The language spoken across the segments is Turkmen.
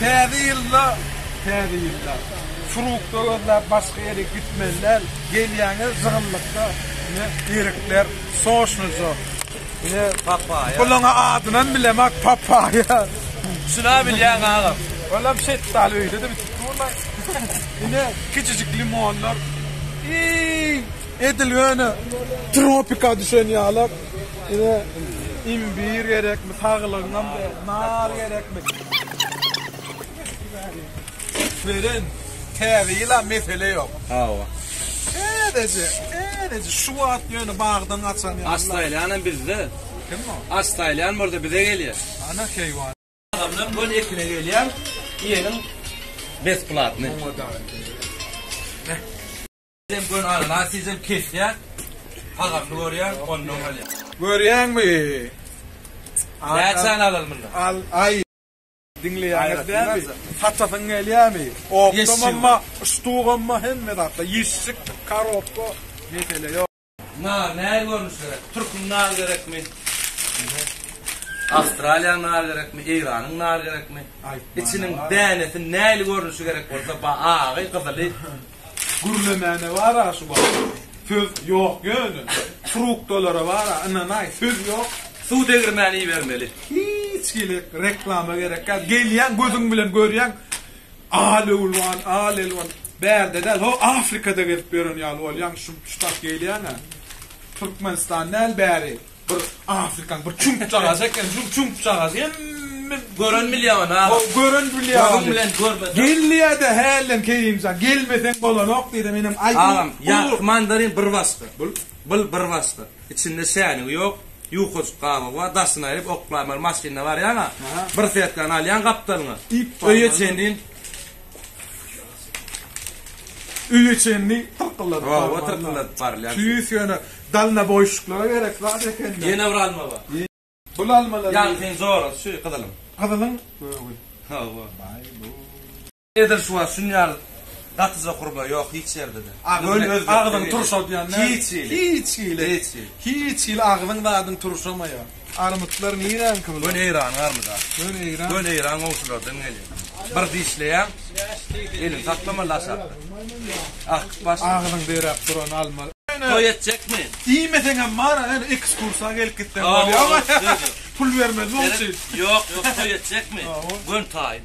Täze ýylda täze ýylda Surugtda gözläp başga ýere gitmeli däl gelýäňiz zygynlykda ine erikler soşnujy ine papaýa bulaňa adynam bilemak papaýa şuna bilýäň agam olam şetdaly öýdede bitip durlaý ine kiçijik limonlar iý edil ýöne tropika düşen ýalak. Size imbir gerekmi, saglygyňam nar gerekmi? Beren, täze ýyla mesele ýok. Hawa. Täzeje, täzeje şu wagt ýöne bagdan açan ýaly. Astaýlanam bizde. Kim o? Astaýlan bolsa bize gelýär. Ana keýwan. Adamlar göl ekine gelýär. Ýeňiň besplatny. Sen gör ana nasizem kesýä. Hagamly görýä ondan alýa. Görýäňmi? Näçäni alal munda? Al aý. Diňleýäňiz dämi? Saçasyň gelýämi? Okdamamma, ştugomma hemme zatda ýeşşik, karobka mesele ýok. Nar nähili görnüşde gerek? Türküň nary gerekmi? Awstraliýanyň nary gerekmi? Eýranyň nary gerekmi? Içiniň dänesi nähili görnüşi gerek bolsa, ba agy, gyzyly. Gürlemäne bar-a şu wagt. Söz ýok ýöne. Trukdalara bar-a, ynanaý, söz ýok. Suw degirmäni ibermeli. Hiç hili reklama gerek ýok. Gelýäň, gözüň bilen görýäň. Al-Elwan, Al-Elwan, bärde däl, ho, Afrikada gezip ýören ýaly bolýaň, şump-şutak gelýäň-ä. Türkmenistan däl bäri, bir Afrikaň bir çüňkjagajy eken, şul çüňkjagazy hemme Gören bilýär ony, aga. Gören bilýär ony. Gözüň bilen görmesem. Gelýä-de hälden Kerimjan, gelmeseň bolanok diýdi, menem aýdym. Agam, ýagty mandarin bir başga, bul bir başga, içinde şänigi ýok, Ýukajyk gabygy bar, daşyny aýryp, oklaýmaly maşynda barýaň-a, bir setkany alýaň gapdalyňa, öýe çenli. Öýe çenli tyrkylladyp barmaly. Hawa, tyrkylladyp barylýar. Tüýs ýöne dalnaboýşluklara gerek zat eken-dä. Ýene bir alma bar. Bul almalar. Ýagtyň zorasy şu gyzylyň. Gyzylyň gögi. Hawa. Baý-bu. Edil şu wagt şun ýaly gatyja gurba ýok hiç ýerde-de. Göni agzyň turşadýan näme? Hiç hili. Hiç hili. Hiç hili. Hiç hili agzyň zadyň turşamaýar. Armytlar niräňki bular? Göni Eýranyň armyda. Göni Eýran. Göni Eýran gowşulardan gelýän. Bir dişleýäň, eliň saklama laşakda. Akyp baş. Agzyň beräp duran alma. Toý etjekmi? Diýmeseňem bar, ýöne ekskursa gelip gitseň bolýar. Pul bermez oň üçin. Ýok, ýok, toý etjekmi? Göni taýyn.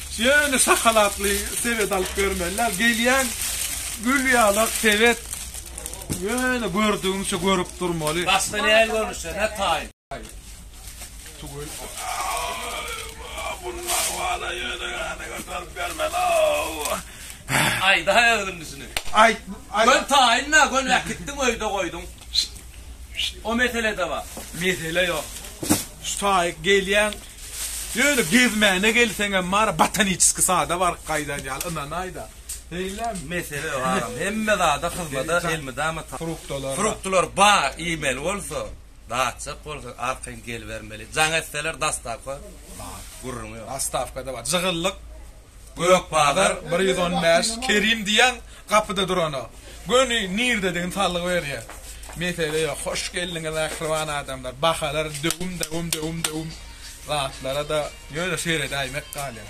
Ýöne şahalatly sebet alyp bermeliler. Gelýän gül ýalak sebet ýöne gördügiňçe görüp durmaly. Başda näl görnüşde, ne taýyn. Tugul. Bunlar wala ýöne gana göterip bermeli-ow. Aýda özüň düşüne. Aýt. Gön taýynna, gön äkitdiň öýde goýduň. O mesele-de bar. Mesele ýok. Şu taýy gelýän Ýöne gezmäne gelseňem bar, botaniçeskiý sada baryp gaýdan ýaly, ynanaýda. Beýlemi? Mesele ýok agam, hemme zada hyzmada elmydama taýýar. Fruktalar. Fruktalar bar, iýmeli bolsa, datjak bolsa arkaýyn gelibermeli. Jaň etseler, dostawka bar, gürrüňi ýok. Dostawka-da bar. Jygyllyk. Gökbazar bir ýüz on bäş Kerim diýýän gapyda durana göni nirdedigini salgy berýär. Mesele ýok. Hoş geldiňiz mähriban adamlar. Bahalar döwüm-döwüm döwüm-döwüm zatlara-da ýöne seredäýmek galýar.